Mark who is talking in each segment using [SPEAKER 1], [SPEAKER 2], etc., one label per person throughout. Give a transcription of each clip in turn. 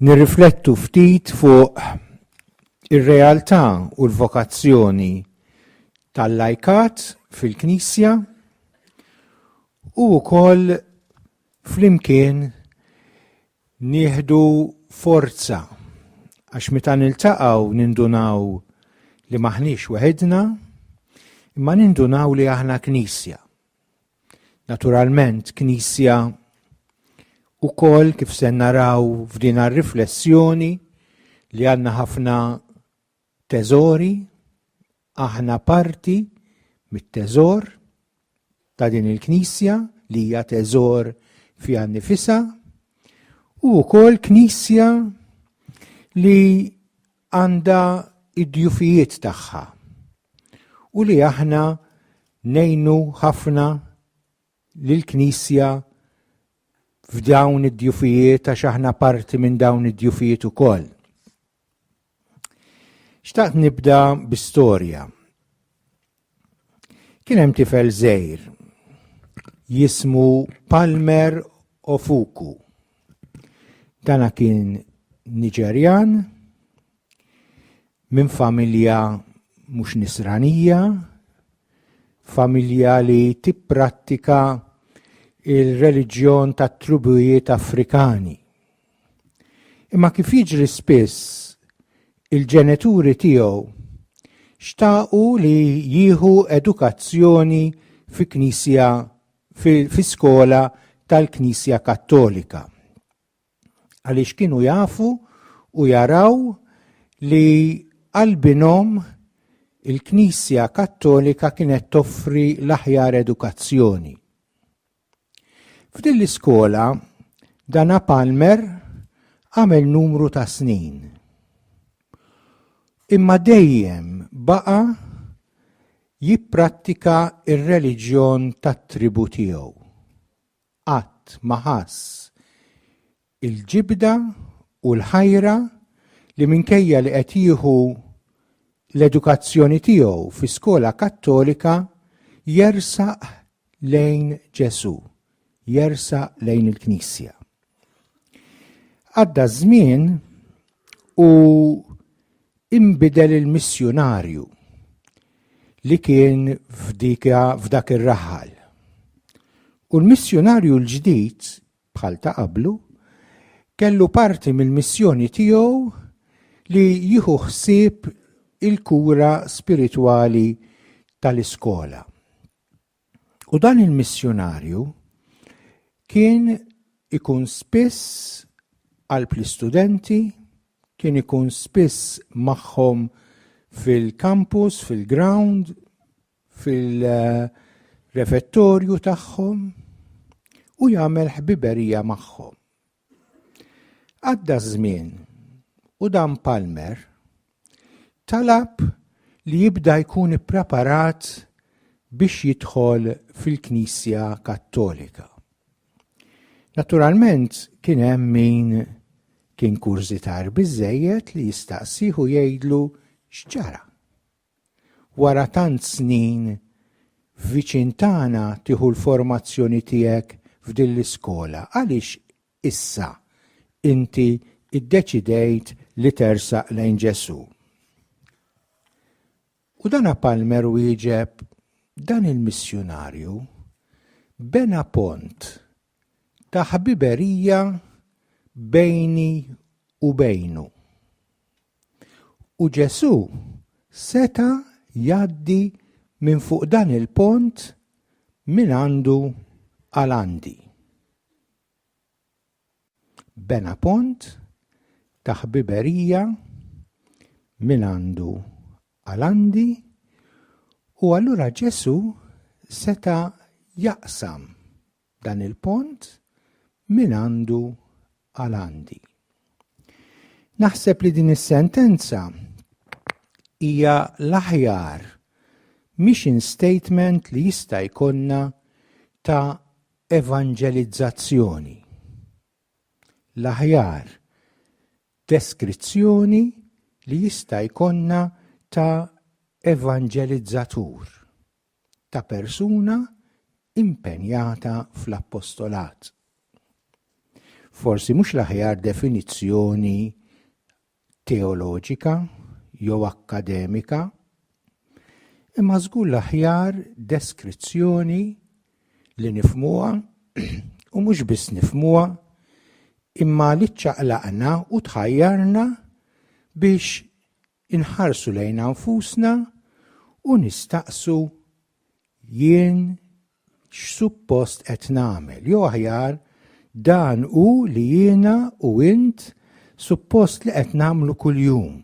[SPEAKER 1] Nirriflettu ftit fuq ir-realtà u l-vokazzjoni tal-lajkat fil-Knisja u wkoll flimkien nieħdu forza għax meta niltaqgħu nindunaw li maħniex weħidna imma nindunaw li aħna Knisja. Naturalment, Knisja ukoll kif se naraw f'din riflessjoni li għandna ħafna teżori, aħna parti mit-teżor ta' din il-Knisja li hija teżor fiha nifisa u wkoll Knisja li għandha d-djufijiet tagħha u li aħna ngħinu ħafna lill-Knisja f'dawn id-djufijiet għax aħna parti minn dawn id-djufijiet ukoll. Xtaqt nibda bi storja. Kien hemm tifel żgħir jismu Palmer Ofuku. Dana kien Niġerjan minn familja mhux nisranija, familja li tipprattika il-reliġjon tat-tribujiet Afrikani. Imma kif jiġri spiss, il-ġenituri tiegħu xtaqu li jieħu edukazzjoni fi knisja fi skola tal-Knisja Kattolika għaliex kienu jafu u jaraw li għal-binom il-Knisja Kattolika kienet toffri l-aħjar edukazzjoni. F'din l-iskola Dana Palmer għamel numru ta' snin. Imma dejjem baqa' jipprattika r-reliġjon tat-tribu tiegħu. Qatt ma ħass il-ġibda u l-ħajra li minkejja li qed jieħu l-edukazzjoni tiegħu fi skola Kattolika jersaq lejn Ġesù, jersaq lejn il-Knisja. Għadda żmien u imbidel il-missjunarju li kien f'dak ir-raħal. U l-missjunarju l-ġdid bħal ta' qablu, kellu parti mill-missjoni tiegħu li jieħu ħsieb il-kura spiritwali tal-iskola. U dan il-missjunarju kien ikun spiss qalb l-istudenti, kien ikun spiss magħhom fil-kampus, fil-grawnd, fil-refettorju tagħhom u jagħmel ħbiberija magħhom. Għadda ż-żmien u Dan Palmer talab li jibda jkun ippreparat biex jidħol fil-Knisja Kattolika. Naturalment kien hemm min kien kurżitar biżżejjed li jistaqsih u jgħidlu x'ġara. Wara tant snin, viċin tagħna tieħu l-formazzjoni tiegħek f'din l-iskola. Għaliex issa inti ddeċidejt li tersaq lejn Ġesù? U Dana Palmer wieġeb, Dan il-missjunarju bena pont ta' ħbiberija bejni u bejnu. U Ġesù seta' jgħaddi minn fuq dan il-pont minn għandu għal għandi. Bena pont ta' ħbiberija minn għandu Għal għandi, u allura Ġesù seta' jaqsam dan il-pont minn għandu għal għandi. Naħseb li din is-sentenza hija l-aħjar mission statement li jista' jkollna ta' evanġelizzazzjoni. L-aħjar Deskrizzjoni li jista' jkollna ta' evanġelizzatur, ta' persuna impenjata fl-appostolat. Forsi mhux l-aħjar definizzjoni teoloġika jew akkademika Imma żgur l-aħjar deskrizzjoni li nifhmuha u mhux biss nifhmuha imma li ċċaqlaqna u tħajjarna biex inħarsu lejna nfusna u nistaqsu jien x'suppost qed nagħmel, jew aħjar, dan hu li jiena u int suppost li qed nagħmlu kuljum,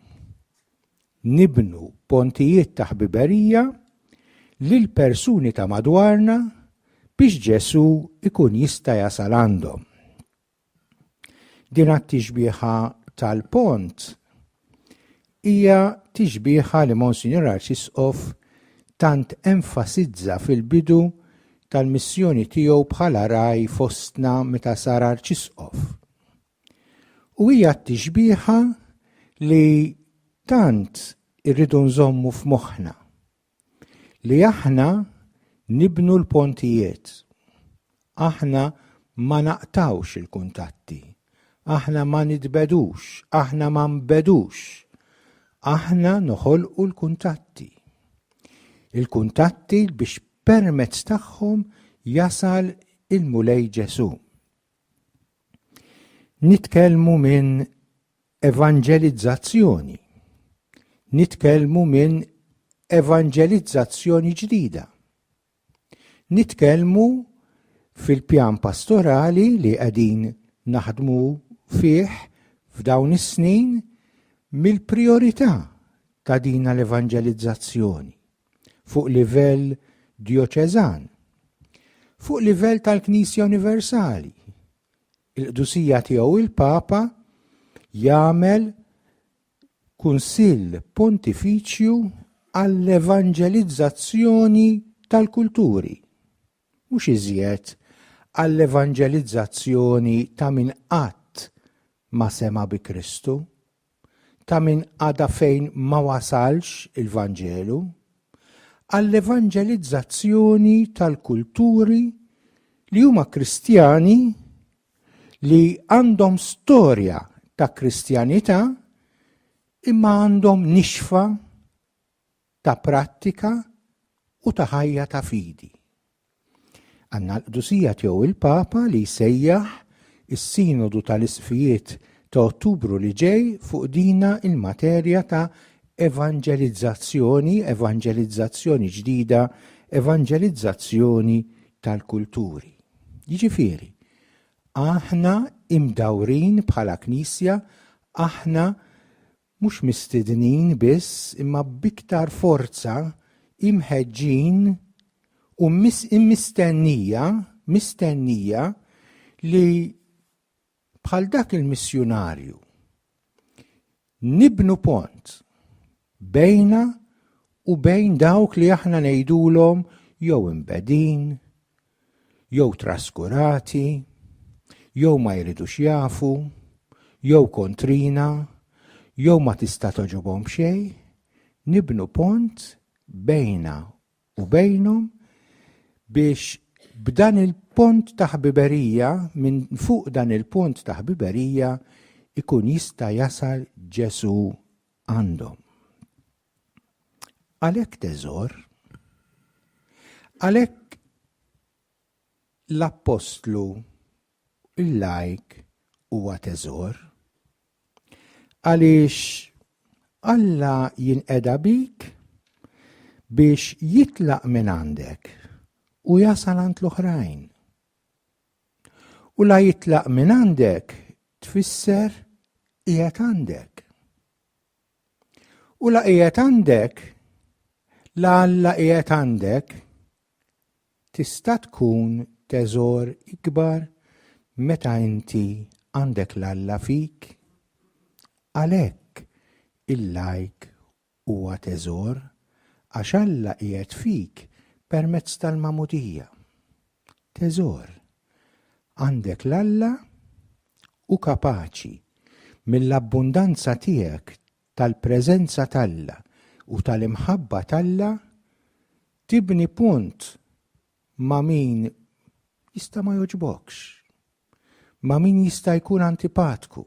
[SPEAKER 1] nibnu pontijiet ta' ħbiberija lill-persuni ta' madwarna biex Ġesù jkun jista' jasal għandhom. Din għat-tixbieha tal-pont hija tixbieha li Monsinjur Arċisqof tant enfasizza fil-bidu tal-missjoni tiegħu bħala ragħaj fostna meta sar Arċisqof. U hija t-tixbieha li tant irridu nżommu f'moħħna. li aħna nibnu l-pontijiet, aħna ma naqtgħux il-kuntatti, aħna ma nitbegħdux, aħna ma nbegħdux, aħna noħolqu l-kuntatti. Il-kuntatti biex permezz tagħhom jasal il-Mulej Ġesù. Nitkellmu minn evanġelizzazzjoni. Nitkellmu minn evanġelizzazzjoni ġdida. Nitkellmu fil-pjan pastorali li qegħdin naħdmu fih f'dawn is-snin mill-prijorità ta' din l-evanġelizzazzjoni. fuq livell djoċeżan, fuq livell tal-Knisja Universali. Il-Qdusija tiegħu il-Papa jagħmel Kunsill Pontifiċju għall-evanġelizzazzjoni tal-kulturi, mhux iżjed għall-evanġelizzazzjoni ta' min qatt ma sema' bi Kristu, ta' min għada fejn ma wasalx il-Vanġelu, għall-evanġelizzazzjoni tal-kulturi li huma Kristjani li għandhom storja ta' Kristjanità imma għandhom nixfa ta' prattika u ta' ħajja ta' fidi. Għandna l-Qdusija Tiegħu l-Papa li jsejjaħ is-Sinodu tal-Isqfijiet ta' Ottubru li ġej fuq dina l-materja ta' evanġelizzazzjoni, evanġelizzazzjoni ġdida, evanġelizzazzjoni tal-kulturi. Jiġifieri, aħna imdawrin bħala Knisja, aħna mhux mistednin biss imma b'iktar forza imħeġġin u mistennija, mistennija li bħal dak il-missjunarju nibnu pont bejna u bejn dawk li aħna ngħidulhom jew imbegħdin, jew traskurati, jew ma jridux jafu, jew kontrina, jew ma tista' togħġobhom b'xejn, nibnu pont bejna u bejnhom biex b'dan il-pont ta' ħbiberija, minn fuq dan il-pont ta' ħbiberija ikun jista' jasal Ġesù għandhom. Għalhekk teżor, għalhekk l-appostlu l-lajk huwa teżor, għaliex Alla jinqeda bik biex jitlaq minn għandek u jasal għand l-oħrajn. U la jitlaq minn għandek tfisser qiegħed għandek. U la qiegħed għandek, la Alla qiegħed għandek, tista' tkun teżor ikbar meta inti għandek l-Alla fik. Għalhekk il-lajk huwa teżor għax Alla qiegħed fik permezz tal-magħmudija. teżor. Għandek l-Alla u kapaċi, mill-abbundanza tiegħek tal-preżenza t'Alla u tal-imħabba t'Alla, tibni punt ma' min jista' ma jogħġbokx. ma' min jista' jkun antipatku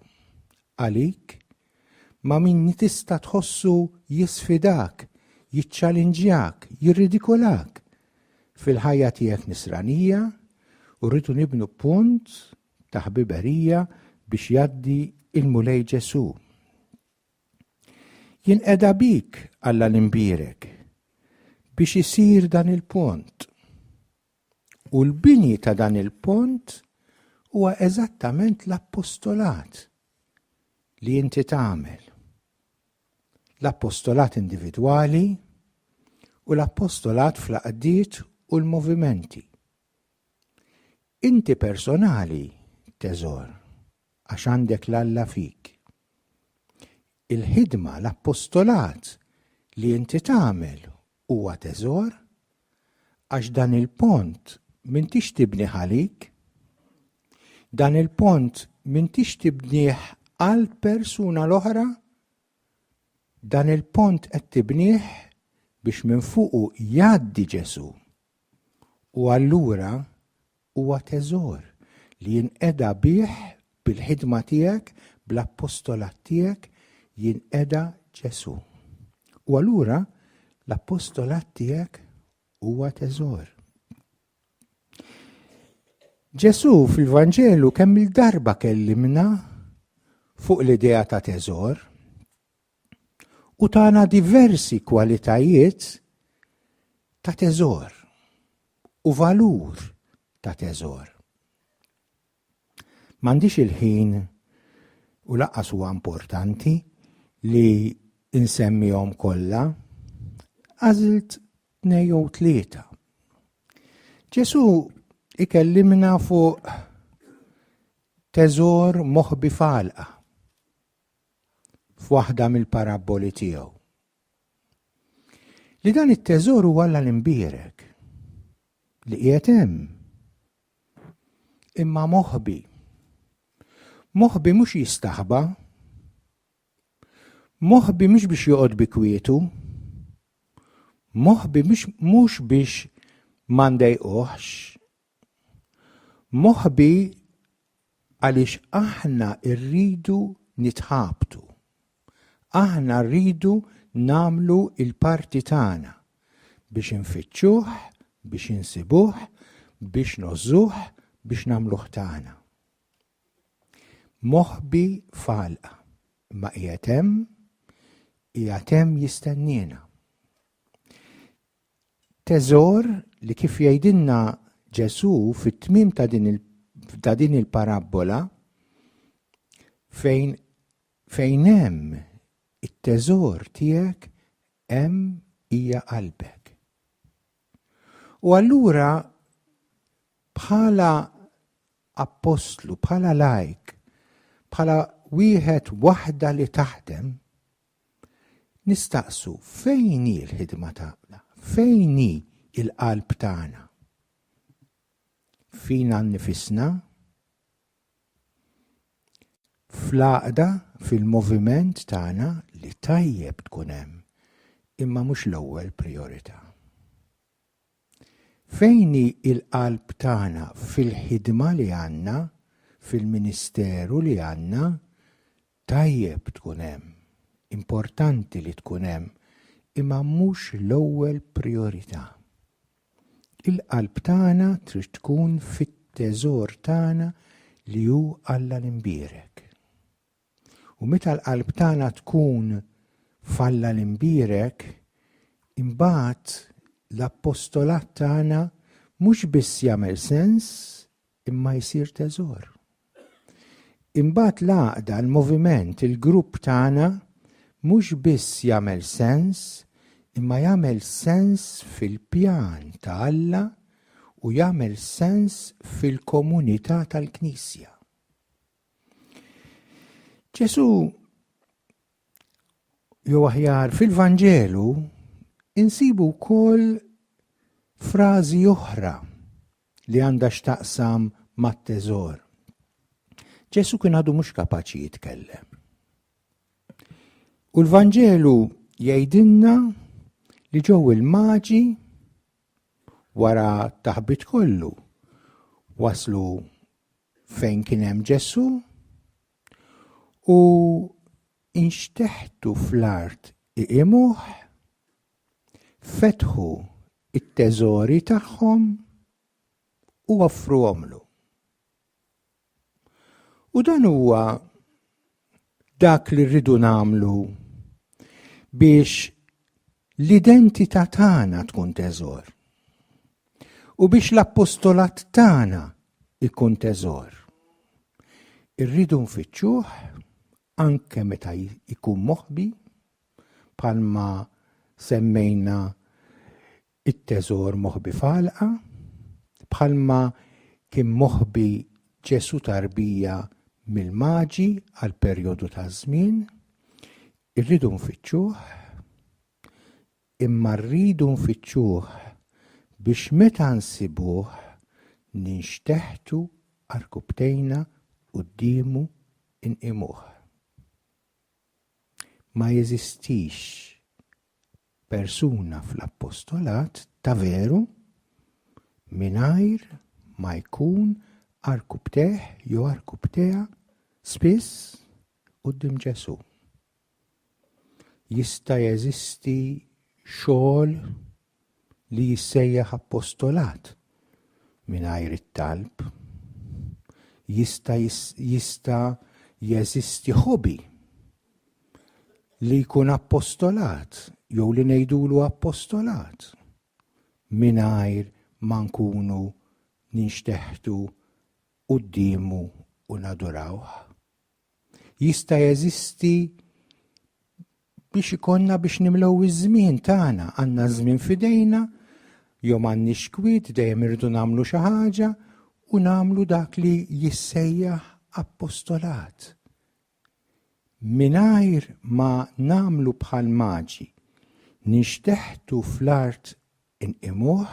[SPEAKER 1] għalik, ma' min tista' tħossu jisfidak, jiċċalinġjak, jirridikolak fil-ħajja tiegħek Nisranija u rridu nibnu punt ta' ħbiberija biex jgħaddi l-Mulej Ġesù. Jinqeda bik Alla l-imbierek biex isir dan il-punt. U l-bini ta' dan il-pont huwa eżattament l-appostolat li inti tagħmel. L-appostolat individwali u l-appostolat fl-għaqdiet u l-movimenti. Inti personali, teżor, għax għandek l-Alla fik. Il-ħidma, l-appostolat li inti tagħmel huwa teżor, għax dan il-pont m'intix tibnih għalik. Dan il-pont m'intix tibnih għal persuna l-oħra. Dan il-pont qed tibnih biex minn fuqu jgħaddi Ġesù. U allura Huwa teżor li jinqeda bih bil-ħidma tiegħek, bl-appostolat tiegħek jinqeda Ġesù. U allura l-appostolat tiegħek huwa teżor. Ġesù fil-Vanġelu kemm il-darba kellimna fuq l-idea ta' teżor. u tana diversi kwalitajiet ta' teżor u valur ta' teżor. M'għandix il-ħin u lanqas huwa importanti li nsemmihom kollha, għażilt tnejn jew tlieta. Ġesù ikellimna fuq teżor moħbi f'għalqa. f'waħda mill-parabboli tiegħu, li dan it-teżor huwa Alla l-imbierek li qiegħed hemm, imma moħbi. Moħbi mhux jistaħba, moħbi mhux biex joqgħod bi kwietu, moħbi mhux biex ma ndejquhx, Moħbi għaliex aħna rridu nitħabtu. Aħna rridu nagħmlu l-parti tagħna biex infittxuh, biex insibuh, biex ngħożżuh, biex nagħmluh tagħna. Moħbi f'għalqa, imma qiegħed hemm, qiegħed hemm jistenniena. Teżor li kif jgħidilna Ġesù fit-tmiem ta' din il-parabbola, fejn fejn hemm it-teżor tiegħek hemm hija qalbek. U allura bħala appostlu, bħala lajk, bħala wieħed waħda li taħdem, Nistaqsu fejn hi l-ħidma ta' Alla? Fejn hi l-qalb tagħna? Fina nnifisna? Fl-għaqda, fil-moviment tagħna li tajjeb tkun hemm, imma mhux l-ewwel prijorità. Fejn hi l-qalb tagħna fil-ħidma li għandna, fil-ministeru li għandna, tajjeb tkun hemm, importanti li tkun hemm, imma mhux l-ewwel prijorità. Il-qalb tagħna trid tkun fit-teżor tagħna li hu Alla l-Imbierek. U meta l-qalb tagħna tkun falla l-imbierek, imbagħad l-appostolat tagħna mhux biss jagħmel sens imma jsir teżor. Imbagħad l-għaqda, l-moviment, il-grupp tagħna mhux biss jagħmel sens imma jagħmel sens fil-pjan ta' Alla u jagħmel sens fil-komunità tal-Knisja. Ġesu jew aħjar fil-Vanġelu insibu wkoll frażi oħra li għandha x'taqsam mat-teżor. Ġesu kien għadu mhux kapaċi jitkellem. U l-Vanġelu jgħidilna li ġew il-maġi Wara t-taħbit kollu, waslu fejn kien hemm Ġesù u inxteħtu fl-art iqimuh, fetħu t-teżori tagħhom u offruhomlu. U dan huwa dak li rridu nagħmlu biex l-identità tagħna tkun teżor u biex l-appostolat tagħna jkun teżor. Irridu nfittxuh anke meta jkun moħbi bħalma semmejna It-teżor moħbi f'għalqa, bħalma kien moħbi Ġesù tarbija mill-Maġi għal perjodu ta' żmien, irridu nfittxuh, imma rridu nfittxuh biex meta nsibuh ninxteħtu għarkupptejna quddiemu nqimuh. Ma jeżistix persuna fl-appostolat ta' veru mingħajr ma jkun arkupteh jew arkuptea spiss quddiem Ġesù. Jista' jeżisti xogħol li jissejjaħ appostolat mingħajr it-talb. Jista' jista' jeżisti ħobi li jkun appostolat jew li ngħidulu appostolat mingħajr ma nkunu ninxteħtu quddiemu u nadurawh. Jista' jeżisti biex ikonna biex nimlew iż-żmien tagħna, għandna żmien fidejna, jew m'għandniex kwiet dejjem irridu nagħmlu xi ħaġa u nagħmlu dak li jissejjaħ appostolat. Mingħajr ma nagħmlu bħal maġi nixteħtu fl-art inqimuh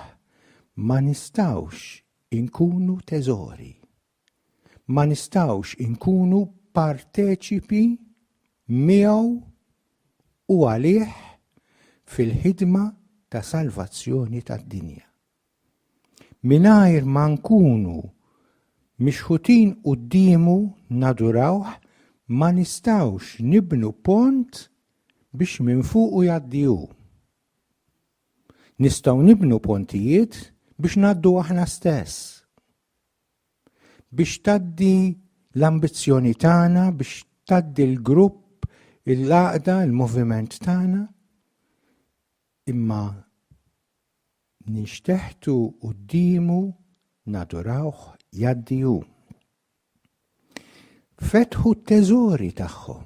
[SPEAKER 1] ma nistgħux inkunu teżori. Ma nistgħux inkunu parteċipi miegħu u għalih fil-ħidma ta' salvazzjoni tad-dinja. Mingħajr ma nkunu mixħutin quddiemu nadurawh ma nistgħux nibnu pont biex minn fuqu jgħaddi hu. Nistgħu nibnu pontijiet biex ngħaddu aħna stess, biex tgħaddi l-ambizzjoni tagħna, biex tgħaddi l-grupp, il-għaqda, il-moviment tagħna, imma Ninxteħtu quddiemu nadurawh jgħaddi hu. Fetħu t-teżori tagħhom,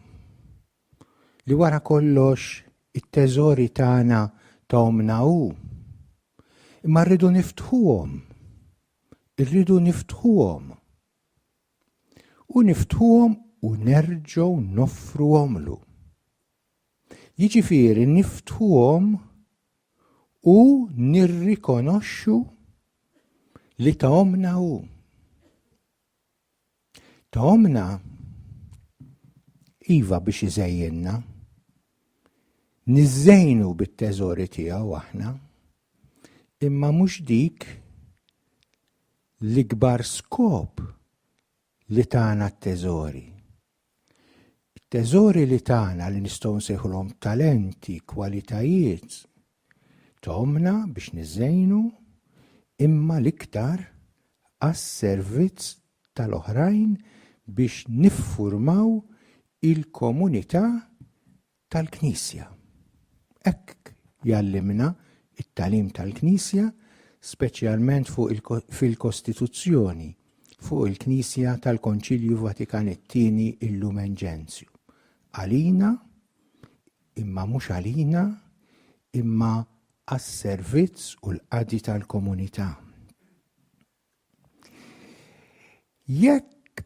[SPEAKER 1] li wara kollox it-teżori tagħna ta' ommna hu. Imma rridu niftħuhom, irridu niftħuhom. U niftħuhom u nerġgħu noffruhomlu. Jiġifieri niftħuhom u nirrikonoxxu li ta' omna hu. Ta' omna iva biex iżejjenna, niżżejnu bit-teżori tiegħu aħna, imma mhux dik l-ikbar skop li tagħna t-teżori. It-teżori li tana li nistgħu nsejħulhom talenti, kwalitajiet, tgħommna biex niżżejnu imma l-iktar għas-servizz tal-oħrajn biex niffurmaw il-komunità tal-Knisja. Hekk jgħallimna t-tagħlim tal-Knisja, speċjalment fil-Kostituzzjoni fuq il-Knisja tal-Konċilju Vatikan it-Tieni il-Lumen Gentium. Għalina, imma mhux għalina, imma għas-servizz u l-qadi tal-komunità. Jekk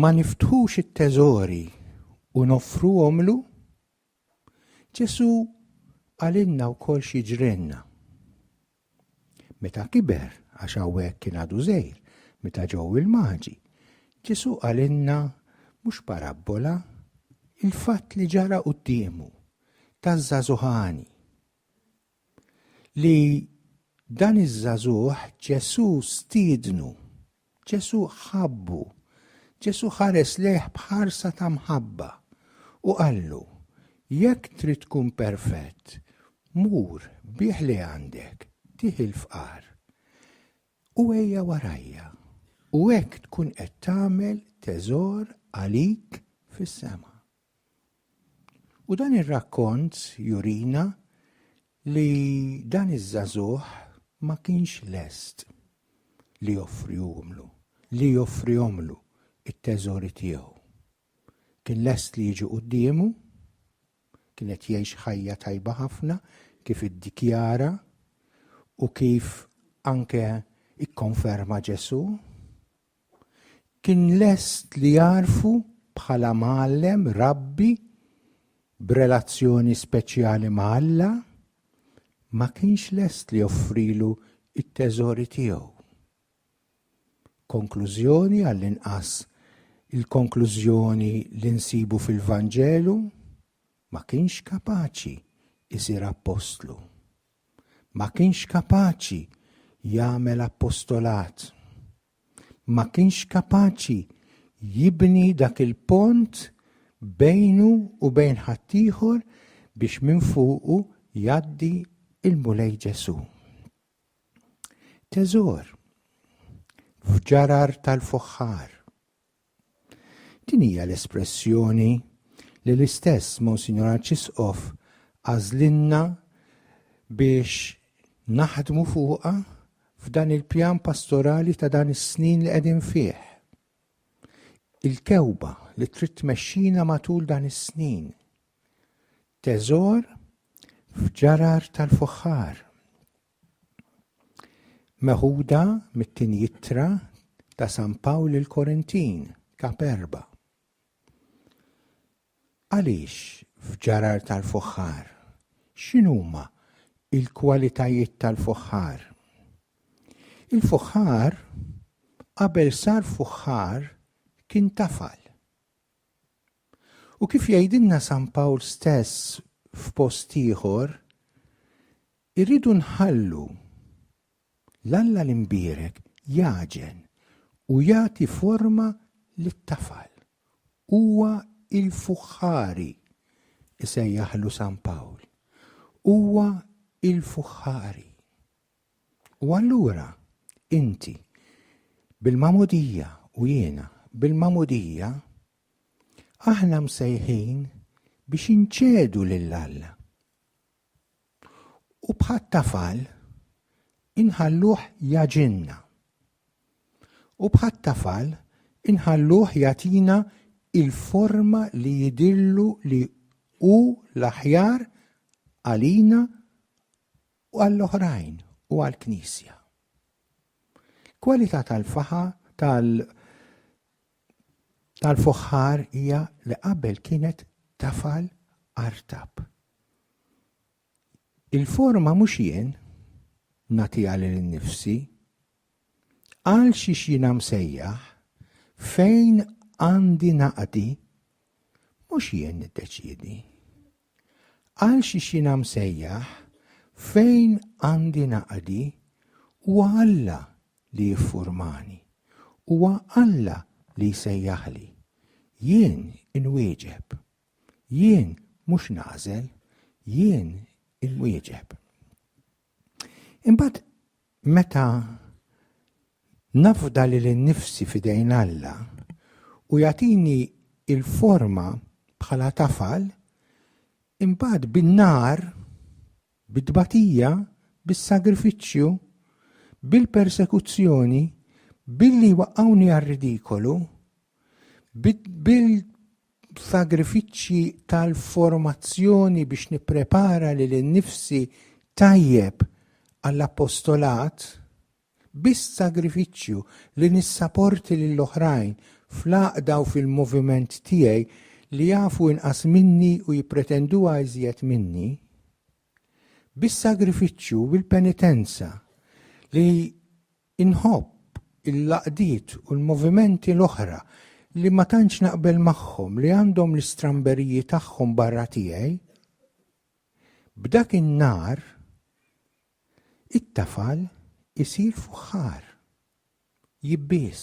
[SPEAKER 1] ma niftħux it-teżori u noffruhomlu, Ġesù qalilna wkoll x'jiġrilna. Meta kiber, għax hawnhekk kien għadu żgħir meta ġew il-Maġi, Ġesù qalilna mhux parabbola, il-fatt li ġara quddiemu, taż-żagħżugħ għani. li dan iż-żagħżugħ Ġesù stiednu, Ġesù ħabbu, Ġesù ħares lejh b'ħarsa ta' mħabba u qallu, Jekk trid tkun perfett, mur, bigħ li għandek, tih il-fqar, u ejja warajja, u hekk tkun qed tagħmel teżor għalik fis-sema. U dan ir-rakkont jurina li dan iż-żagħżugħ ma kienx lest li joffrihomlu, li joffrihomlu t-teżori tiegħu. Kien lest li jiġu quddiemu, kien qed jgħix ħajja tajba ħafna kif iddikjara u kif anke ikkonferma Ġesù. Kien lest li jagħrfu bħala Mgħallem, Rabbi, b'relazzjoni speċjali ma' Alla. Ma kienx lest li joffrilu t-teżori tiegħu. Konklużjoni, għall-inqas il-konklużjoni li nsibu fil-Vanġelu, ma kienx kapaċi jsir appostlu. Ma kienx kapaċi jagħmel appostolat. Ma kienx kapaċi jibni dak il-pont bejnu u bejn ħaddieħor biex minn fuqu jgħaddi l-Mulej Ġesù. Teżor f'ġarar tal-fuħħar. Din hija l-espressjoni li l-istess Monsinjur Arċisqof għażlilna biex naħdmu fuqha f'dan il-pjan pastorali ta' dan is-snin li qegħdin fih. Il-kewba li trid tmexxina matul dan is-snin. Teżor f'ġarar tal-fuħħar. Meħuda mit-Tieni Ittra ta' San Pawl lill-Korintin, Kap. Erbgħa. Għaliex f'ġarar tal-fuħħar? X'inhuma l-kwalitajiet tal-fuħħar? Il-fuħħar qabel sar fuħħar kien tafal. U kif jgħidilna San Pawl stess f'post ieħor, Irridu nħallu l Alla l-Imbierek jagħġen u jagħti forma lit-tafal. Huwa il-Fuħħari, isejjaħlu San Pawl. Huwa il-Fuħħari. U allura inti bil-magħmudija u jiena bil-magħmudija, aħna msejħin biex inċedu lil Alla. u bħat-tafal inħalluh jagħġinna, u bħat-tafal inħalluh jagħtina l-forma li jidhirlu li hu l-aħjar għalina u għall-oħrajn u għall-Knisja. Kwalità tal-faħam, tal-, tal-fuħħar hija li qabel kienet tafal artab. Il-forma mhux jien nagħtiha lil innifsi, għal xiex jiena msejjaħ fejn għandi naqdi mhux jien niddeċiedi. Għal xiex jiena msejjaħ fejn għandi naqdi u Alla li jiffurmani. Huwa Alla li jsejjaħli. Jien inwieġeb. Jien mhux nagħżel, jien inwieġeb. Imbagħad meta nafda lil innifsi f'idejn Alla u jagħtini l-forma bħala tafal, imbagħad bin-nar, bit-tbatija, bis-sagrifiċċju, bil-persekuzzjoni, billi jwaqqgħuni għar-ridikolu, bil-sagrifiċċji tal-formazzjoni biex nipprepara lili nnifsi tajjeb għall-appostolat, bis-sagrifiċċju li nissaporti lil oħrajn fl-għaqda u fil-moviment tiegħi li jafu inqas minni u jippretenduha iżjed minni, bis-sagrifiċċju u bil-penitenza li nħobb il-għaqdiet u l-movimenti l-oħra li ma tantx naqbel magħhom li għandhom l-istramberiji tagħhom barra tiegħi, b'dak in-nar, It-tafal isir fuħħar, jibbies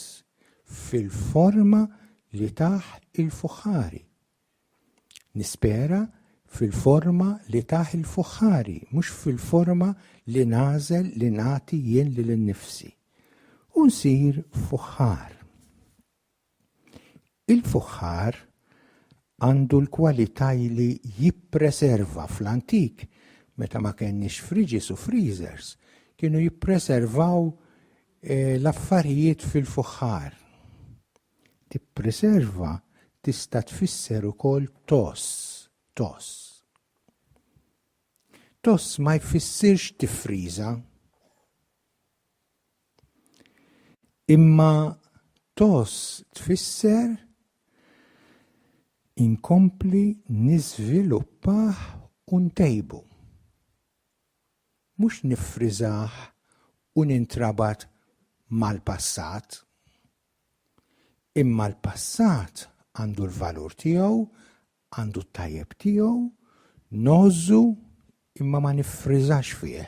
[SPEAKER 1] fil-forma li tah il-fuħħari. Nispera fil-forma li tah il-fuħħari, mhux fil-forma li nagħżel li nagħti jien lil innifsi. U nsir fuħħar. Il-fuħħar għandu l-kwalitajli jippreserva, fl-antik, meta ma kenniex fridges u freezers, kienu jippreservaw l-affarijiet fil-fuħħar. Tippreserva tista' tfisser ukoll tgħożż, tgħożż. Tgħożż ma jfissirx tiffriża. Imma toss tfisser inkompli niżviluppah u ntejbu. Mhux niffriżah u nintrabat mal-passat. Imma l-passat għandu l-valur tiegħu, għandu t-tajjeb tiegħu, ngħożżu imma ma niffriżax fih.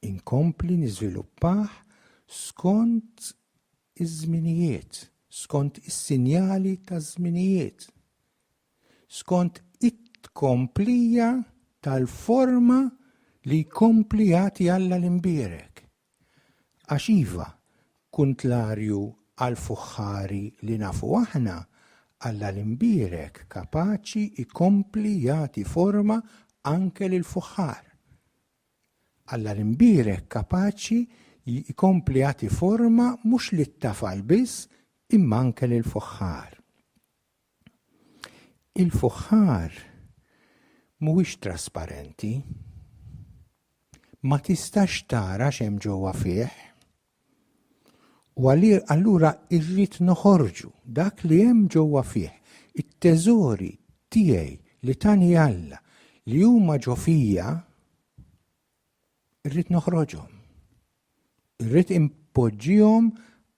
[SPEAKER 1] inkompli niżviluppah skont iż-żminijiet, skont is-sinjali taż-żminijiet, skont it-tkomplija tal-forma li jkompli jagħti Alla l-imbierek. Għax iva, kuntlarju għall-fuħħari li nafu aħna, Alla l-imbierek kapaċi jkompli jagħti forma anke lill-fuħħar. Alla l-Imbierek kapaċi jkompli jagħti forma mhux lit-tafal biss imma anke lill-fuħħar. Il-fuħħar mhuwiex trasparenti. Ma tistax tara x'hemm ġewwa fih. U allura irrid noħorġu dak li hemm ġewwa fih, it-teżori tiegħi li tani Alla li huma ġo fija, irrid noħroġhom. Irrid inpoġġihom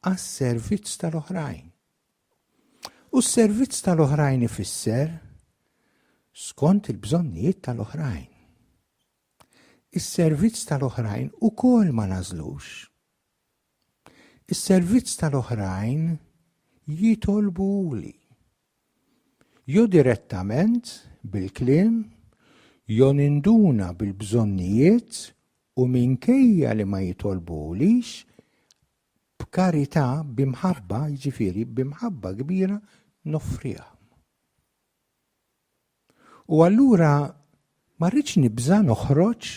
[SPEAKER 1] għas-servizz tal-oħrajn. U s-servizz tal-oħrajn ifisser skont il-bżonnijiet tal-oħrajn. Is-servizz tal-oħrajn ukoll ma nagħżlux. Is-servizz tal-oħrajn jitolbuhuli. Jew direttament bil-kliem jew ninduna bil-bżonnijiet u minkejja li ma jitolbuhulix, b'karità, b'imħabba, jiġifieri b'imħabba kbira noffrihom. U allura ma rridx nibża' noħroġ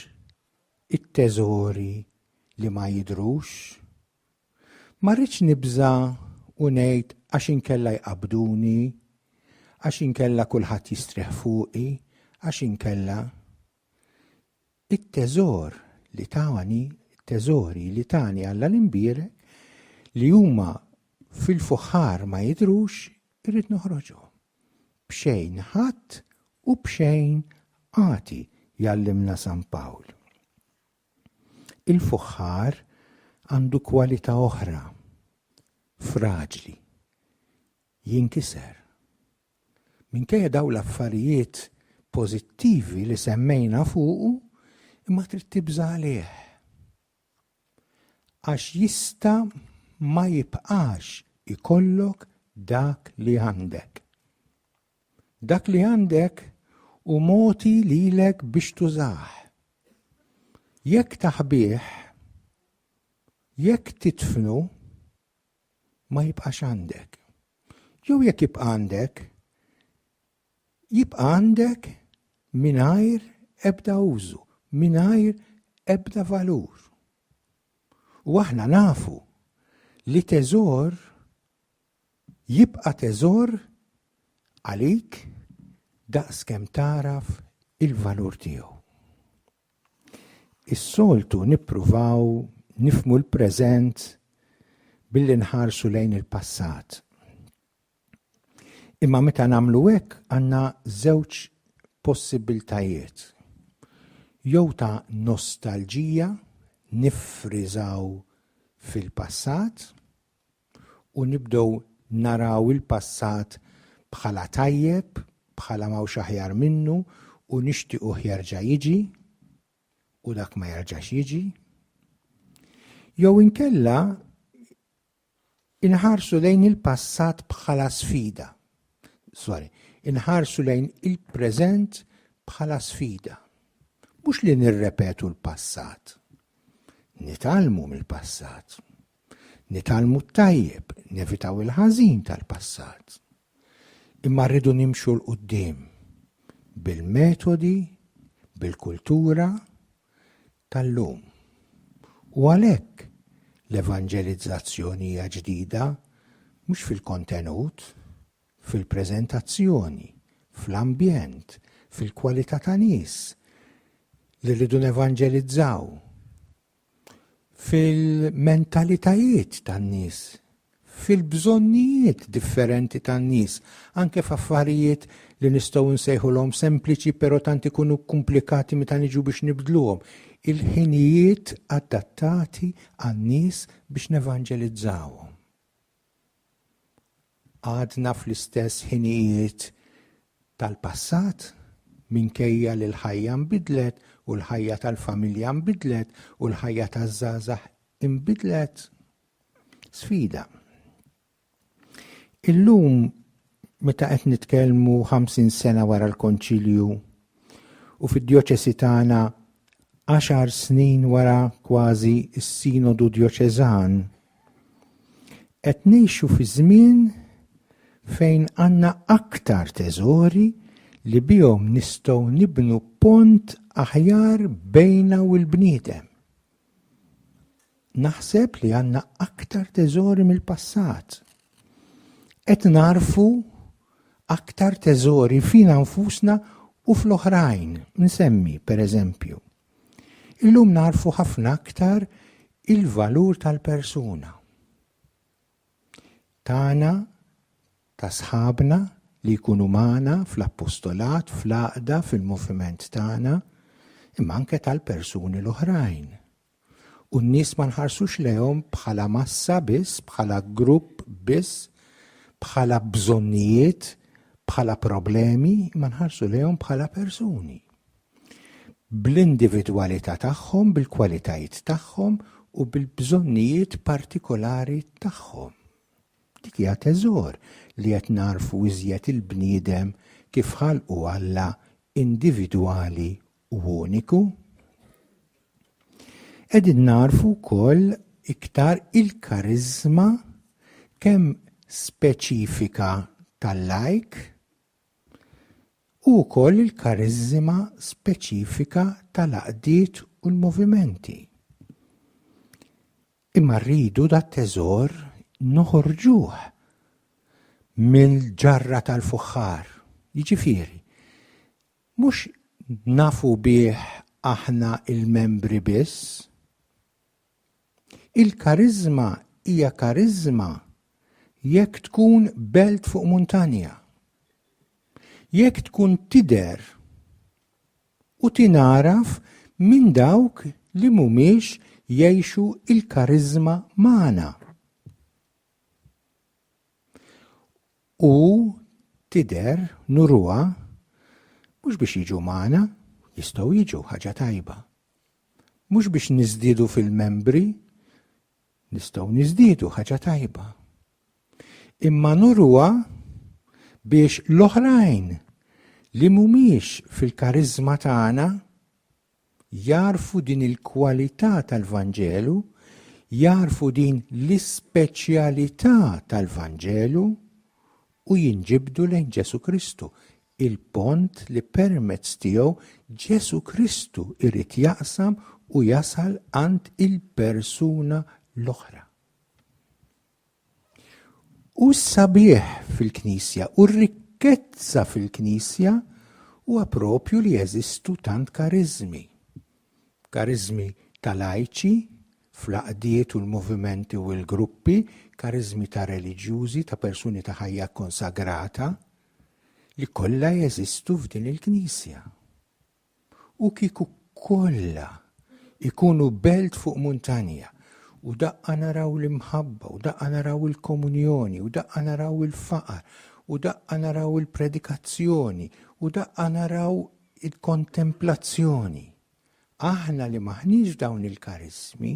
[SPEAKER 1] it-teżori li ma jidhrux. Ma rridx nibża' u ngħid għax inkella jqabbduni, għax inkella kulħadd jistrieħ fuqi, għax inkella. It-teżor li tani, it-teżori li tani Alla l-imbierek, li huma fil-fuħħar ma jidhrux, irrid noħroġhom. B'xejn ħadd u b'xejn agħti jgħallimna San Pawl. Il-fuħħar għandu kwalità oħra, fraġli, jinkiser. Minkejja dawn l-affarijiet pożittivi li semmejna fuqu, imma trid tibża' għalih. Għax jista' ma jibqax ikollok dak li għandek. Dak li għandek hu mogħti lilek biex tużah. Jekk taħbih, jekk tidfnu, ma jibqax għandek. Jew jekk jibqa' għandek, jibqa' għandek mingħajr ebda użu, mingħajr ebda valur. U aħna nafu li teżor jibqa' teżor għalik daqskemm tagħraf il-valur tiegħu. Is-soltu nippruvaw nifhmu l-preżent billi nħarsu lejn il-passat. Imma meta nagħmlu hekk għandna żewġ possibbiltajiet. Jew ta' nostalġija, niffriżaw fil-passat u nibdew naraw il-passat bħala tajjeb, bħala m'hawnx aħjar minnu u nixtiequh jerġa' jiġi u dak ma jerġax jiġi. Jew inkella Inħarsu lejn il-passat bħala sfida. Sorry, inħarsu lejn il-preżent bħala sfida. Mhux li nirrepetu l-passat. Nitgħallmu mill-passat. Nitgħallmu t-tajjeb, nevitaw il-ħażin tal-passat. Imma rridu nimxu 'l quddiem bil-metodi, bil-kultura, tal-lum. U għalhekk l-evanġelizzazzjoni hija ġdida mhux fil-kontenut, fil-preżentazzjoni, fl-ambjent, fil-kwalità ta' nies li rridu nevanġelizzaw, fil-mentalitajiet tan-nies fil-bżonnijiet differenti tan-nies, anke f'affarijiet li nistgħu nsejħulhom sempliċi però tant ikunu kkumplikati meta niġu biex nibdluhom, il-ħinijiet adattati għan-nies biex nevanġelizzawhom. Għadna fl-istess ħinijiet tal-passat? Minkejja li l-ħajja nbidlet u l-ħajja tal-familja nbidlet u l-ħajja taż-żgħażagħ inbidlet? Sfida. Illum meta qed nitkellmu 50 sena wara l-Konċilju u fid-djoċesi tagħna għaxar snin wara kważi s-Sinodu Djoċeżan, qed ngħixu fi żmien fejn għandna aktar teżori li bihom nistgħu nibnu pont aħjar bejna u l-bniedem. Naħseb li għandna aktar teżori mill-passat. Qed nagħrfu aktar teżori fina nfusna u fl-oħrajn, nsemmi, per eżempju. Illum nagħrfu ħafna aktar il-valur tal-persuna. tagħna, ta' sħabna li jkunu magħna fl-appostolat, fl-għaqda, fil-moviment tagħna, imma anke tal-persuni l-oħrajn. U n-nies ma nħarsux lejhom bħala massa biss, bħala grupp biss, bħala bżonnijiet, bħala problemi, ma nħarsu lejhom bħala persuni. bl-individwalità tagħhom, bil-kwalitajiet tagħhom u bil-bżonnijiet partikolari tagħhom. Dik hija teżor li qed nagħrfu iżjed il-bniedem kif ħalqu Alla individwali u uniku. Qegħdin nagħrfu wkoll iktar il-kariżma kemm speċifika tal-lajk u wkoll il-kariżma speċifika tal-għaqdiet u l-movimenti. Imma rridu dat-teżor noħorġuh mill-ġarra tal-fuħħar, jiġifieri, mhux nafu bih aħna l-membri biss, Il-kariżma hija kariżma jekk tkun belt fuq muntanja. Jekk tkun tidher u tingħaraf minn dawk li mhumiex jgħixu l-kariżma magħna. U tidher, nuruha, mhux biex jiġu magħna, jistgħu jiġu, ħaġa tajba, Mhux biex niżdiedu fil-membri, nistgħu niżdiedu, ħaġa tajba. Imma nuruha biex l-oħrajn li mhumiex fil-kariżma tagħna jagħrfu din il-kwalità tal-Vanġelu, jagħrfu din l-ispeċjalità tal-Vanġelu u jinġibdu lejn Ġesù Kristu. il-pont li permezz tiegħu Ġesù Kristu jrid jaqsam u jasal għand il-persuna l-oħra. U s-sabiħ fil-Knisja u r-rikkezza fil-Knisja huwa propju li jeżistu tant kariżmi. Kariżmi ta' lajċi fl-għaqdiet u l-movimenti u l-gruppi, kariżmi ta' reliġjużi, ta' persuni ta' ħajja konsagrata, li kollha jeżistu f'din il-Knisja. U kieku kollha ikunu belt fuq muntanja, u daqqa naraw l-imħabba, u daqqa naraw il-komunjoni, u daqqa naraw il-faqar, u daqqa naraw il-predikazzjoni, u daqqa naraw il-kontemplazzjoni. Aħna li m'aħniex dawn il-kariżmi,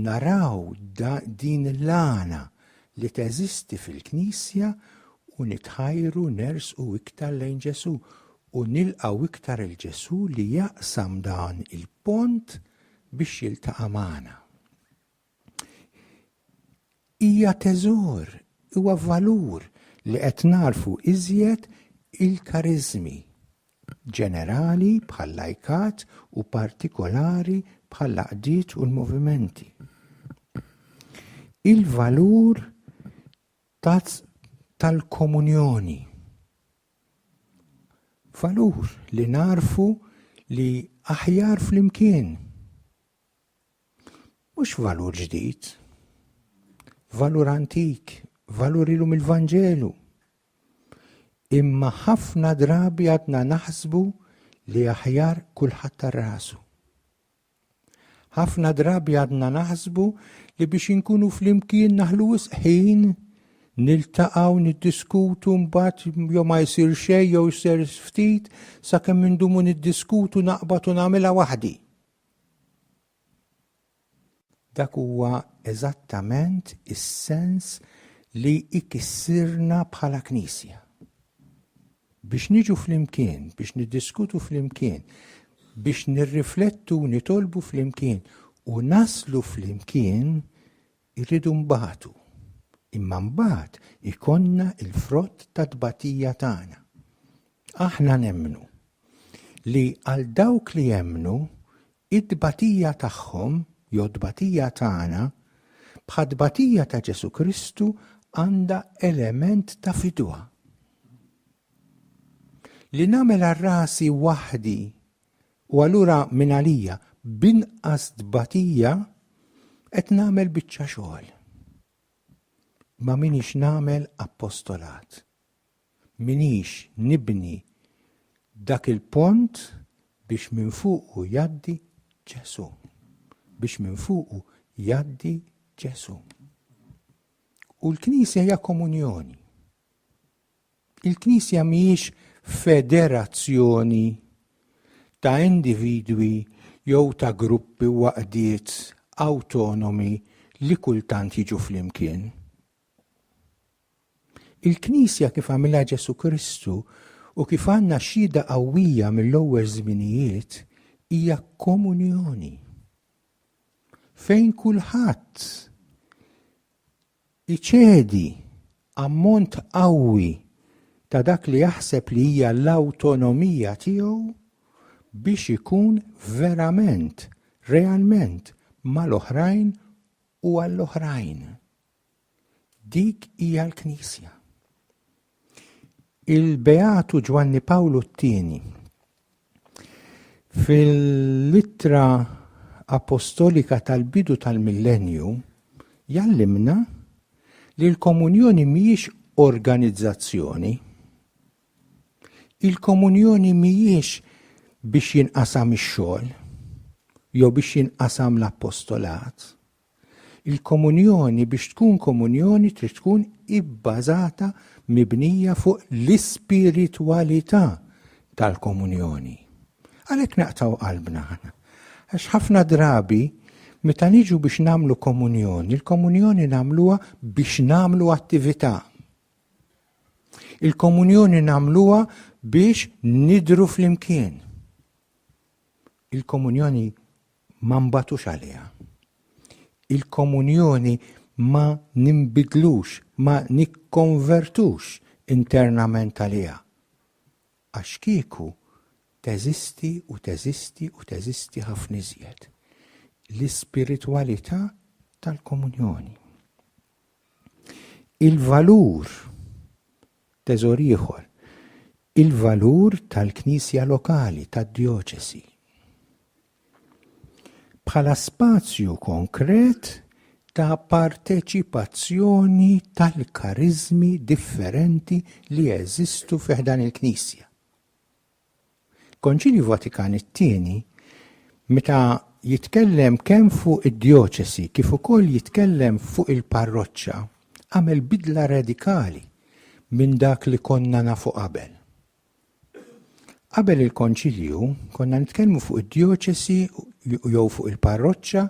[SPEAKER 1] naraw din l-għana li teżisti fil-Knisja u nitħajru nersqu iktar lejn Ġesù u nilqgħu iktar 'il Ġesù li jaqsam dan il-pont biex jiltaqa' magħna. Hija teżor, huwa valur li qed nagħrfu iżjed il-kariżmi, ġenerali bħal-lajkat u partikolari bħall-għaqdiet u l-movimenti. Il-valur tal-komunjoni, valur li nagħrfu li aħjar flimkien. Mhux valur ġdid. Valur antik, valur ilu mill-Vanġelu. Imma ħafna drabi għadna naħsbu li aħjar kulħadd għal rasu. Ħafna drabi għadna naħsbu li biex inkunu flimkien naħlu ħin niltaqgħu niddiskutu mbagħad jew ma jsir xejn jew jsir ftit sakemm indumu niddiskutu naqbad u nagħmilha waħdi. Dak huwa eżattament is-sens li jkissirna bħala Knisja. Biex niġu flimkien, biex niddiskutu flimkien, biex nirriflettu u nitolbu flimkien u naslu flimkien Irridu nbatu, imma mbagħad ikollna l-frott tat-tbatija tagħna. Aħna nemmnu li għal dawk li jemmnu, it-tbatija tagħhom, jew t-tbatija tagħna, bħat-tbatija ta' Ġesù Kristu għandha element ta' fidwa. Li nagħmel għal rasi waħdi U allura mingħalija, b'inqas tbatija, qed nagħmel biċċa xogħol. Ma m'iniex nagħmel appostolat. M'iniex nibni dak il-pont biex minn fuqu jgħaddi Ġesù. Biex minn fuqu jgħaddi Ġesù. U l-Knisja hija komunjoni. Il-Knisja mhijiex federazzjoni ta' individwi jew ta' gruppi u għaqdiet awtonomi li kultant jiġu flimkien. Il-Knisja kif għamilha Ġesù Kristu u kif għandna xhieda qawwija mill-ewwel żminijiet hija komunjoni fejn kulħadd iċedi ammont qawwi ta' dak li jaħseb li hija l-awtonomija tiegħu biex ikun verament, realment, mal-oħrajn u għall-oħrajn. Dik hija l-Knisja. Il-Beatu Ġwanni Pawlu t-Tieni fil-ittra apostolika tal-bidu tal-millennju jgħallimna li l-komunjoni mhijiex organizzazzjoni. Il-komunjoni mhijiex biex jinqasam ix-xogħol jew biex jinqasam l-appostolat. Il-komunjoni biex tkun komunjoni trid tkun ibbażata, mibnija fuq l-ispiritwalità tal-komunjoni. Għalhekk naqtgħu qalbna aħna. Għax ħafna drabi meta niġu biex nagħmlu komunjoni, il-komunjoni nagħmluha biex nagħmlu attività. Il-komunjoni nagħmluha biex nidru flimkien. Il-komunjoni ma nbagħtux għaliha. Il-komunjoni ma ninbidlux, ma nikkonvertux internament għaliha. Għaxkieku teżisti u teżisti u teżisti ħafna iżjed l-ispiritwalità tal-komunjoni. Il-valur, teżor ieħor, Il-valur tal-knisja lokali, tad-djoċesi, bħala spazju konkret ta' parteċipazzjoni tal-kariżmi differenti li jeżistu fi ħdan il-Knisja. Il-Konċilju Vatikan it-Tieni, meta jitkellem kemm fuq id-djoċesi kif ukoll jitkellem fuq il-parroċċa, Għamel bidla radikali minn dak li konna nafu qabel. Qabel il-Konċilju, konna nitkellmu fuq id-djoċesi jew fuq il-parroċċa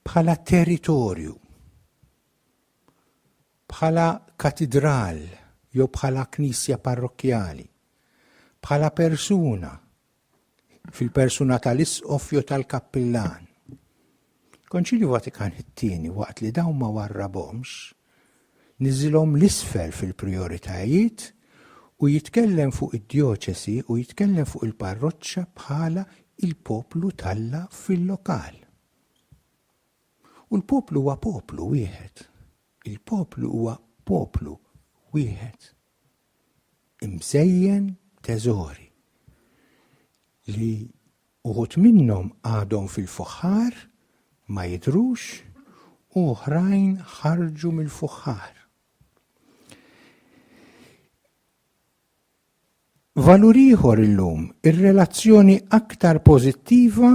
[SPEAKER 1] bħala territorju, bħala katidral jew bħala knisja parrokkjali, bħala persuna fil-persuna tal-Isqof jew tal-Kappillan. Il-Konċilju Vatikan it-Tieni, waqt li dawn ma warrabhomx, niżżilhom 'l isfel fil-prijoritajiet u jitkellem fuq id-djoċesi u jitkellem fuq il-parroċċa bħala l-poplu t'Alla fil-lokal. U l-poplu huwa poplu wieħed. Il-poplu huwa poplu wieħed. imżejjen b'teżori li uħud minnhom għadhom fil-fuħħar ma jidhrux u oħrajn ħarġu mill-fuħħar. Valur ieħor illum ir-relazzjoni aktar pożittiva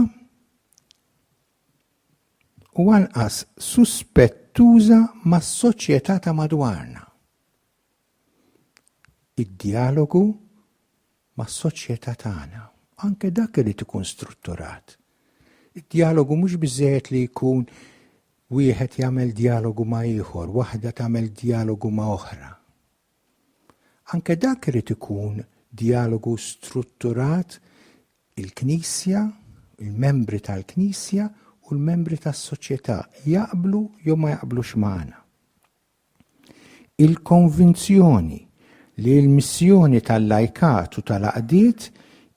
[SPEAKER 1] u anqas suspettuża mas-soċjetà ta' madwarna. id-djalogu mas-soċjetà tagħna. Anke dak irid ikun strutturat. Id-djalogu mhux biżżejjed li jkun wieħed jagħmel djalogu ma' ieħor, waħda tagħmel djalogu ma' oħra. Anke dak irid ikun djalogu strutturat il-Knisja, il-membri tal-Knisja u l-membri tas-soċjetà jaqblu jew ma jaqblux magħna. Il-konvinzjoni li l-missjoni tal-lajkat u tal-għaqdiet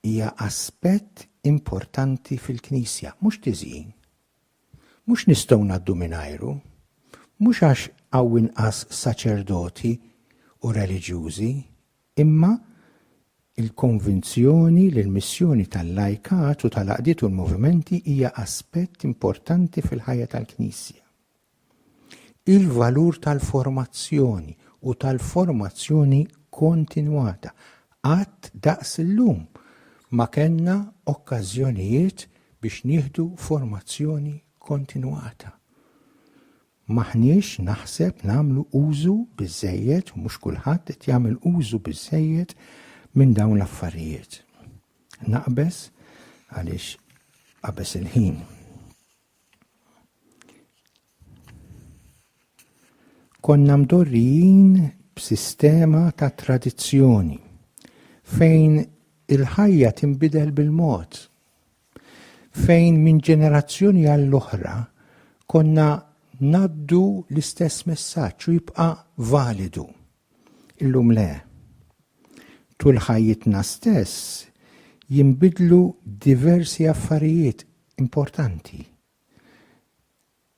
[SPEAKER 1] hija aspett importanti fil-Knisja, mhux tiżjin. Mhux nistgħu ngħaddu mingħajru. Mhux għax hawn inqas saċerdoti u reliġjużi, imma l-konvinzjoni li l-missjoni tal-lajkat u tal-għaqdiet u l-movimenti hija aspett importanti fil-ħajja tal-Knisja. Il-valur tal-formazzjoni u tal-formazzjoni kontinwata. Qatt daqs illum ma kellna okkażjonijiet biex nieħdu formazzjoni kontinwata. M'aħniex, naħseb, nagħmlu użu biżżejjed, u mhux kulħadd qed jagħmel użu biżżejjed minn dawn l-affarijiet. Naqbeż għaliex qabeż il-ħin. Konna mdorrijin b'sistema ta' tradizzjoni fejn il-ħajja tinbidel bil-mod. Fejn minn ġenerazzjoni għall-oħra konna naddu l-istess messaġġ u jibqa' validu. Illum le. Tul ħajjitna stess jinbidlu diversi affarijiet importanti.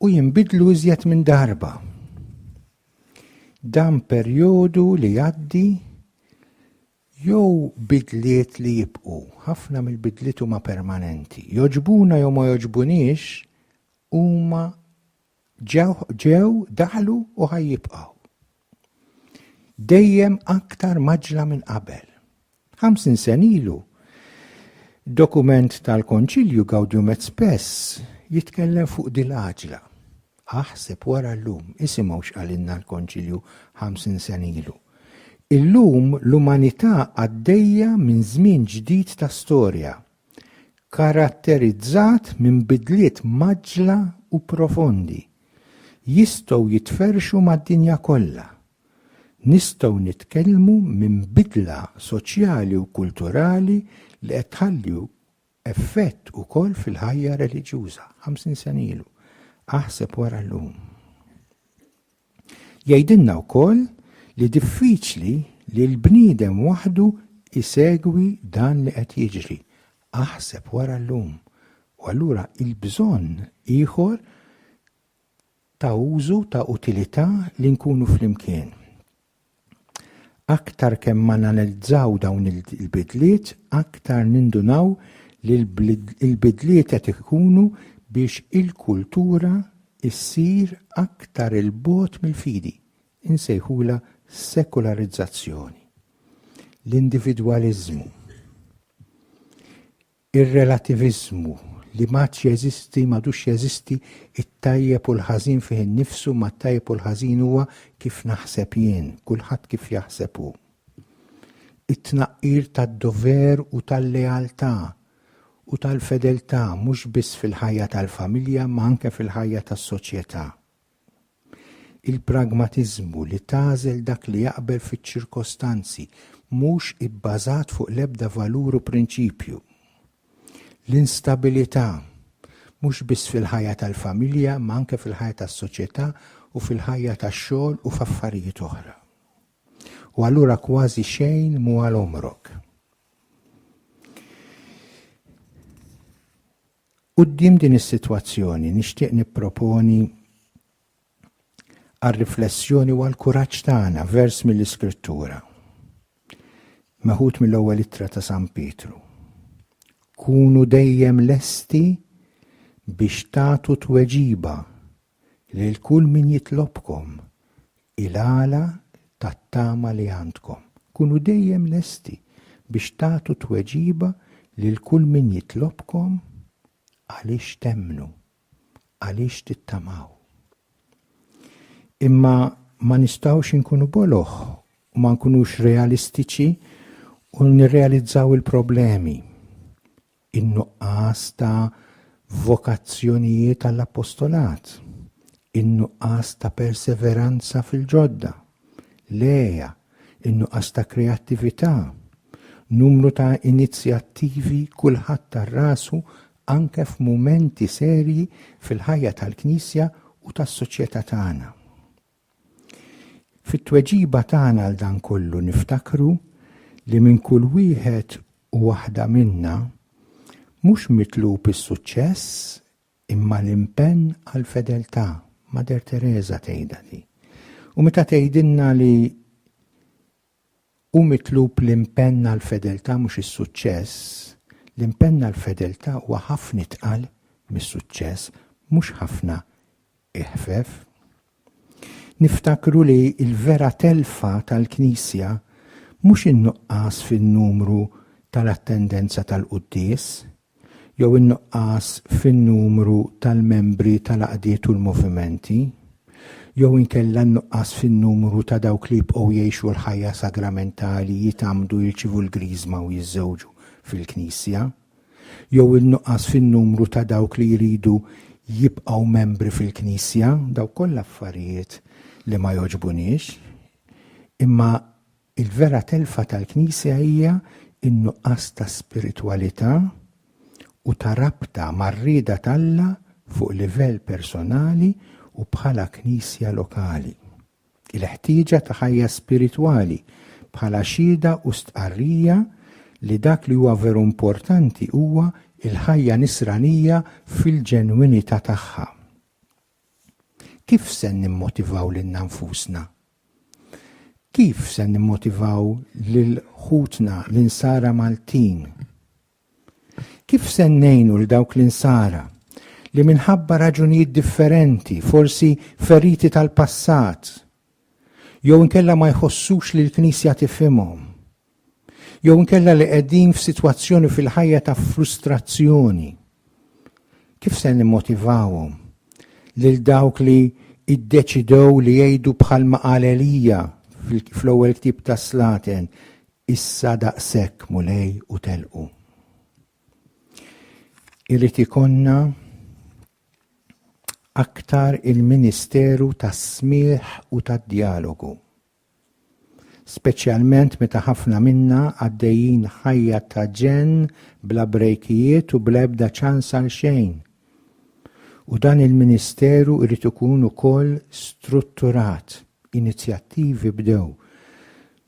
[SPEAKER 1] U jinbidlu iżjed minn darba. Dan perjodu li jgħaddi jew bidliet li jibqu, ħafna mill-bidliet huma permanenti. Jogħġbuna jew ma jogħġbuniex huma ġew, daħlu u ħajjibqgħu. dejjem aktar maġla minn qabel. Ħamsin sen ilu, dokument tal-Konċilju Gaudium et Spes jitkellem fuq dil-għaġla. Aħseb wara llum, isimgħu x'qalilna l-Konċilju ħamsin sen ilu. Illum l-umanità għaddejja minn żmien ġdid ta' storja, karatterizzat minn bidliet mgħaġġla u profondi, jistgħu jitferrxu mad-dinja kollha. Nistgħu nitkellmu minn bidla soċjali u kulturali li qed tħalli effett ukoll fil-ħajja reliġjuża. Ħamsin sena ilu. Aħseb wara llum. Jgħidilna wkoll li diffiċli li l-bniedem waħdu jsegwi dan li qed jiġri, aħseb wara llum, u allura il-bżonn ieħor ta' użu ta' utilità li nkunu flimkien. Aktar kemm ma nanalizzaw dawn il-bidliet, aktar nindunaw li l-bidliet qed ikunu biex il-kultura ssir aktar 'il bogħod mill-fidi, insejħulha sekularizzazzjoni. L-individwaliżmu. Ir-relativiżmu, li m'għadx jeżisti, m'għadux jeżisti, it-tajjeb u l-ħażin fih innifsu, ma t-tajjeb u l-ħażin huwa kif naħseb jien, kulħadd kif jaħseb hu. It-tnaqqir tad-dover u tal-lealtà u tal-fedeltà mhux biss fil-ħajja tal-familja ma anke fil-ħajja tas-soċjetà. Il-pragmatiżmu li tagħżel dak li jaqbel fiċ-ċirkostanzi, mhux ibbażat fuq l-ebda valur u prinċipju. L-instabilità, mhux biss fil-ħajja tal-familja imma anke fil-ħajja tas-soċjetà u fil-ħajja tax-xogħol u f'affarijiet oħra. U allura kważi xejn mhu għal għomrok. Quddiem din is-sitwazzjoni nixtieq nipproponi għar-riflessjoni u għall-kuraġġ tagħna vers mill-Iskrittura meħud mill-Ewwel Ittra ta' San Pietru. Kunu dejjem lesti biex tagħtu tweġiba Lil kull min jitlobkom il-għala tat-tama li għandkom. Kunu dejjem lesti biex tagħtu tweġiba lil kull min jitlobkom għaliex temmnu, għaliex tittamaw. Imma ma nistgħux inkunu boloh u ma nkunux realistiċi u nirrealizzaw il-problemi. in-nuqqas ta' vokazzjonijiet għall-appostolat, in-nuqqas ta' perseveranza fil-ġodda, l-għeja, in-nuqqas ta' kreattività, numru ta' inizjattivi kulħadd għal rasu anke f'mumenti serji fil-ħajja tal-Knisja u tas-soċjetà tagħna. Fit-tweġiba tagħna għal dan kollu niftakru li minn kull wieħed u waħda minna mhux mitlub is-suċċess imma l-impenn għall-fedeltà, Mater Tereża tgħidha di. U meta tgħidilna li Hu mitlub l-impenn għall-fedeltà mhux is-suċċess. L-impenn għall-fedeltà huwa ħafna itqal mis-suċċess, mhux ħafna iħfef. Niftakru li l-vera telfa tal-Knisja mhux in-nuqqas fin-numru tal-attendenza tal-quddies, jew in-nuqqas fin-numru tal-membri tal-għaqdiet u l-movimenti, jew inkella n-nuqqas fin-numru ta' dawk li jibqgħu jgħixu l-ħajja sagramentali, jitgħammdu, jirċievu l-Griżma u jiżżewġu fil-Knisja, jew in-nuqqas fin-numru ta' dawk li jridu jibqgħu membri fil-Knisja, dawk kollha affarijiet li ma jogħġbuniex, imma Il-vera telfa tal-Knisja hija n-nuqqas ta' spiritwalità u ta' rabta mar-rieda t'Alla fuq livell personali u bħala Knisja lokali. Il-ħtieġa ta' ħajja spiritwali bħala xhieda u stqarrija li dak li huwa veru importanti huwa l-ħajja nisranija fil-ġenwinità tagħha. Kif se nimmotivaw lilna nfusna Kif se nimmotivaw lil ħutna l-insara Maltin? Kif se ngħinu 'l dawk l-insara li minħabba raġunijiet differenti, forsi feriti tal-passat, jew inkella ma jħossux li l-Knisja tifhimhom, Jew inkella li qegħdin f'sitwazzjoni fil-ħajja ta' frustrazzjoni. Kif se nimmotivawhom lil dawk li ddeċidew li jgħidu bħalma qal Elija fl-ewwel ktieb tas-Slaten, Issa daqshekk, Mulej, u telqu. Irid ikollna aktar il-ministeru tas-smigħ u tad-djalogu. speċjalment meta ħafna minna għaddejjin ħajja ta' ġenn bla brejkijiet u bla ebda ċans għal xejn. U dan il-ministeru irid ikun ukoll strutturat. Inizjattivi bdew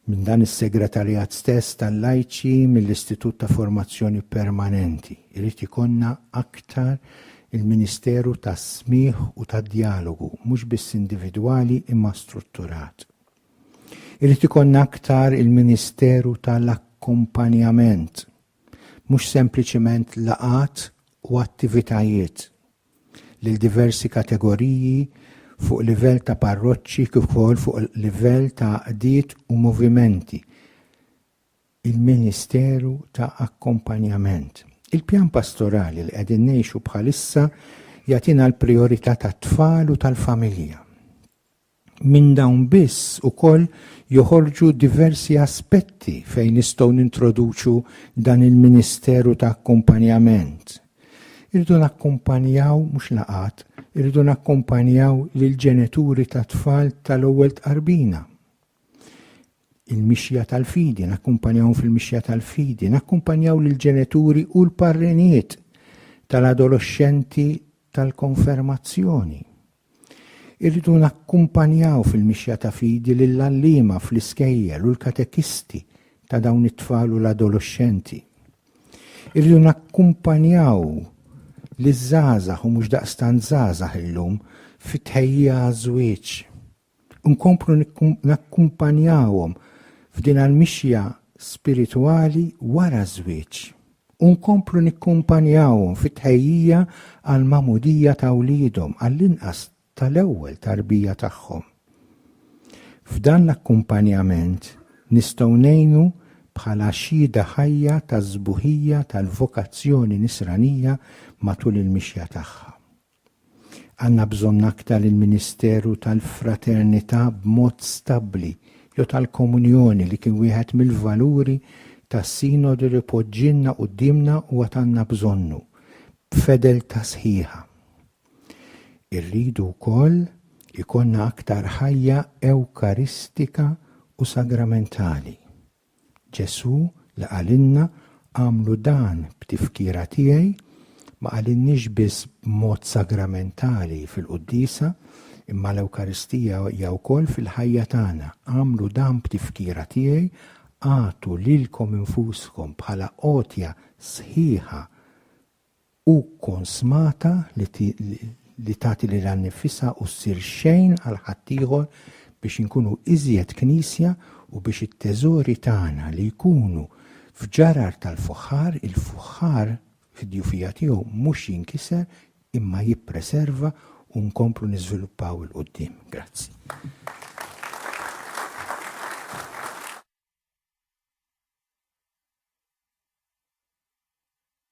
[SPEAKER 1] minn dan is-Segretarjat stess tal-Lajċi mill-Istitut ta' Formazzjoni Permanenti. Irid ikollna aktar il-ministeru tas-smigħ u tad-djalogu, mhux biss individwali imma strutturat. Irid ikollna aktar il-ministeru tal-akkumpanjament, mhux sempliċement laqgħat u attivitajiet lil diversi kategoriji fuq livell ta' parroċċi kif ukoll fuq livell ta' għaqdiet u movimenti, il-ministeru ta' akkompanjament. Il-pjan pastorali li qegħdin ngħixu bħalissa jagħtina l-prijorità tat-tfal u tal-familja. Minn dawn biss ukoll joħorġu diversi aspetti fejn nistgħu nintroduċu dan il-ministeru ta' akkumpanjament. Irridu nakkumpanjaw mhux laqgħat, irridu nakkumpanjaw lill-ġenituri tat-tfal tal-ewwel tqarbina. il-mixja tal-fidi, nakkumpanjawhom fil-mixja tal-fidi, nakkumpanjaw lill-ġenituri u l-parriniet tal-adoloxxenti tal-konfermazzjoni. Irridu nakkumpanjaw fil-mixja ta' fidi lill-għalliema fl-iskejjel u l-katekisti ta' dawn it-tfal u l-adoloxxenti. Irridu nakkumpanjaw liż-żgħażagħ u mhux daqstant żgħażagħ illum fit-tħejjija għaż-żwieġ. nkomplu nakkumpanjawhom f'din għall-mixja spiritwali wara ż-żwieġ u nkomplu nikkumpanjawhom fit-tħejjija għall-magħmudija ta' wliedhom, għallinqas tal-ewwel tarbija tagħhom. F'dan l-akkumpanjament nistgħu ngħinu bħala xhieda ħajja taż-sbuħija tal-vokazzjoni Nisranija matul il-mixja tagħha. Għandna bżonn aktar il-ministeru tal-fraternità b'mod stabbli jew tal-komunjoni li kien wieħed mill-valuri tas-Sinodu li poġġielna quddiemna u għad għandna bżonnu, b'fedeltà sħiħa. Irridu wkoll ikollna aktar ħajja ewkaristika u sagramentali. Ġesù li qalilna agħmlu dan b'tifkira tiegħi, ma qalilniex biss b'mod sagramentali fil-quddiesa, imma l-Ewkaristija hija wkoll fil-ħajja tagħna, agħmlu dan b'tifkira tiegħi, agħtu lilkom infuskom bħala għotja sħiħa u konsmata li tagħti lilha nnifisha u ssir xejn għal ħaddieħor biex inkunu iżjed Knisja u biex it-teżori tagħna li jkunu f'ġarar tal-fuħħar, il-fuħħar fid-djufija tiegħu mhux jinkiser imma jippreserva u nkomplu niżviluppaw 'il quddiem. Grazzi.